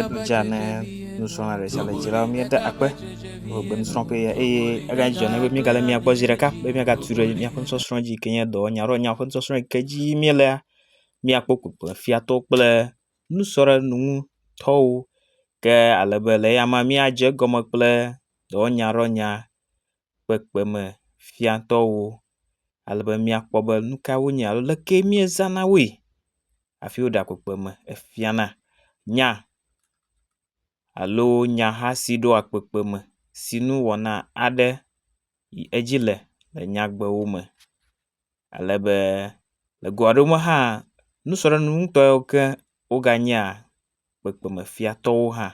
Edzea ne nusrɔ̃la ɖe sia ɖe dzi la, míeda akpe wɔ be nusrɔ̃ƒe ye eye eganye dzɔ ne be míegale mia gbɔ zi ɖeka be míagatui ɖe míaƒe nusɔsrɔ̃ dzi yi ke nye dɔ nya alo nyawo ƒe nusɔsrɔ̃ yi ke dzi yim míelea, míakpɔ kpukpuefiatɔwo kple nusrɔ̃ɖeŋutɔwo ke ale be le eyama míadze egɔme kple dɔwɔnyaɖɔnya. kpekpeme fiatɔwo ale be míakpɔ be nu ka wonye alo le kee míezana woe hafi woɖea kpekpeme fiana nya alo nyaha si ɖoa kpekpeme si nu wɔna aɖe yi edzi le le nyagbewo me. ale be le go aɖewo me hã nusɔɖenu ŋtɔ yiwo ke woganyea kpekpemefiatɔwo hã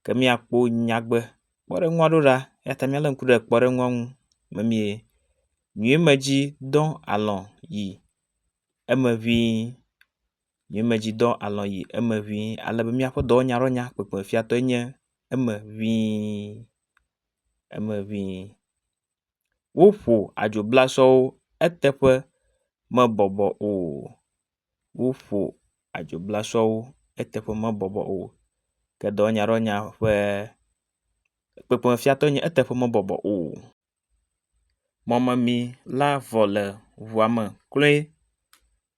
ke míakpɔ nyagbe kpɔɖeŋu aɖewo ɖa eya ta míale ŋku ɖe kpɔɖeŋua ŋu memie. Nyuie me dzi dɔ alɔ̃ yi eme ŋi nyuie me dzi dɔ alɔ̃ yi eme ŋi ale be míaƒe dɔ nya ɖe nya kpekpemefiatɔe nye eme ŋi eme ŋi. Woƒo adzoblasɔwo eteƒe mebɔbɔ o. Woƒo adzoblasɔwo eteƒe mebɔbɔ o. Ke dɔwɔnyaɖɔwɔnya ƒe kpekpemefiatɔe nye eteƒe mebɔbɔ o. Mɔmemi la vɔ le ŋua me kloe.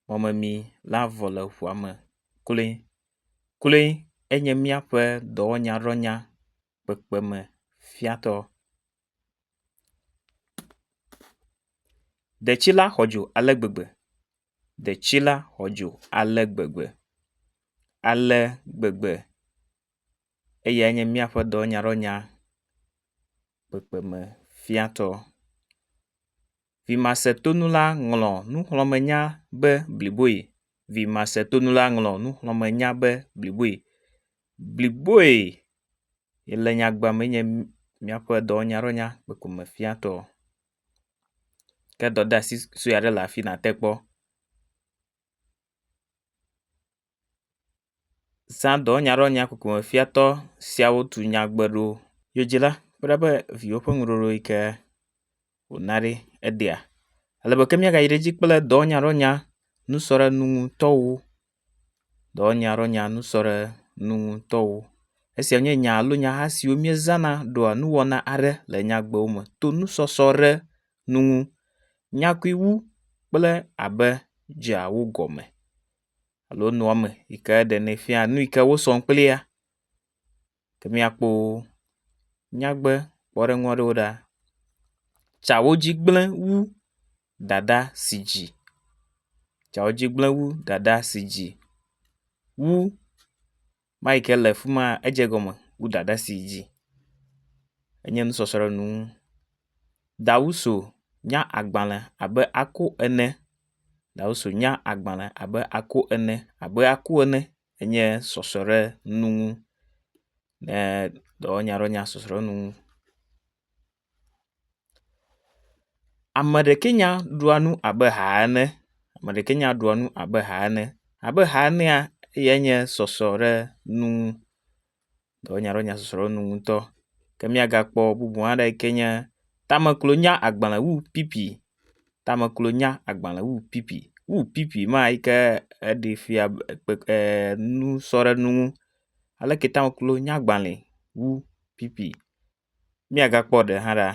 Mɔmemi la vɔ le ŋua me kloe. Kloe enye míaƒe dɔwɔnyaɖɔwɔnya kpekpemefiatɔ. Detsi la xɔ dzo ale gbegbe. Detsi la xɔ dzo ale gbegbe, ale gbegbe. Eyae nye míaƒe dɔnyaɖɔnya kpekpeme fiatɔ. Vimasetonula ŋlɔ nuxlɔ̃menya be bliboe. Vimasetonula ŋlɔ nuxlɔ̃menya be bliboe. Bliboe le nyagbe me enye míaƒe dɔwɔnyadɔwɔnya kpekpeme fiatɔ. Ke dɔdeasi sue aɖe le afi nàte kpɔ. zã dɔwɔnya ɖe wɔna koko me fiatɔ siawo tu nyagbe ɖo. Yodzila kple eƒe viwo ƒe nuɖoɖo yi ke wòna ɖi eɖea. Ale be ke míagayi ɖe edzi kple dɔwɔnya ɖe wɔna nusrɔ̃ɖenu ŋutɔwo. Dɔwɔnya ɖe wɔna nusrɔ̃ɖenu ŋutɔwo. Esia nye nya alo nyaha siwo míezãna ɖɔa nuwɔna aɖe le nyagbewo me to nusɔsrɔ̃ ɖe nu ŋu. Nyakui wu kple abe dzeawo gɔme. alo nua me yi ke ɖenɛ fia nu yi ke wosɔ kplia. Ke míakpɔ nyagbe kpɔɖeŋu aɖewo ɖa. Tsa wo dzi gble wu ɖaɖa si dzi. Tsa wo dzi gble wu ɖaɖa si dzi wu. Mike ke le fima edze egɔme wu dada si yi dzi. Enye nusɔsrɔ̃ɖenu. Dawuso nya agbale abe aku ene. Dawuso nya agbale abe aku ene abe aku ene enye sɔsrɔ̃ɖenu. Eee dɔwɔnya ɖo nya sɔsrɔ̃ɖenu. Ame ɖekɛ nya ɖua nu abe ha ene. Ame ɖekɛ nya ɖua nu abe ha ene. Abe ha enea eyae nye sɔsrɔ̃ɖenu dɔ wɔna ɖe nya sɔsrɔ̃ɖenu ŋu ŋutɔ. Ke míagakpɔ bubu aɖe yi ke nye tameklonya agbale wu pipi. Tameklonya agbale wu pipi. Wu pipi ma yi ke eɖe fia be kpe e nu sɔ ɖe enu ŋu. Aleke tameklonya agbale wu pipi. Míagakpɔ ɖe hã la,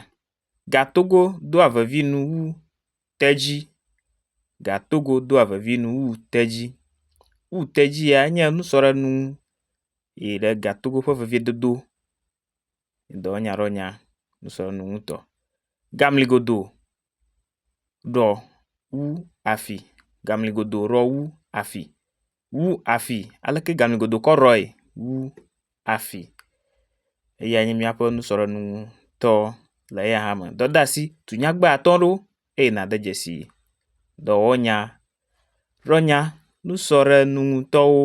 Gatogo doa vevi nu wu tedzi. Gatogo doa vevi nu wu tedzi. Wu tedzi ya enye nusɔlenu yi ɖe gatogo ƒe vevidodo dɔ nya ɖe nya nusɔlenu ŋutɔ. Gamligodo ɖɔ wu afi. Gamligodo ɖɔ wu afi. wu afi aleke gamigodokɔ Roy wu afi. Eya nye míaƒe nusɔɖeɖenutɔ le eya hã me. Dɔdeasi, tu nyagbe atɔ̃ ɖewo eye nàde dzesi dɔwɔnya Roy nya nusɔɖeɖenutɔwo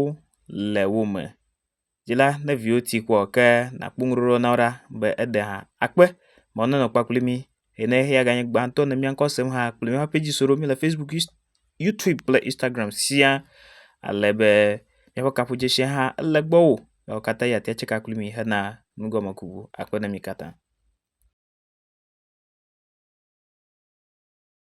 le wo me. dzi la ne viwo ti kpɔ ke nakpɔ ŋuɖoɖo na wo ɖa be eɖe hã akpe be wonanɔ kpe kpli mí eye ne eya ganye gbãtɔ ne míaŋkɔ asem hã kple míaƒe pɛdzi so ɖo míele facebook us youtube kple instagram sia ale be míaƒe kaƒodzesi hã ele gbɔwó miawo katã yi ateŋ atseka kpli mí hena nugɔmekuku akpe na mi katã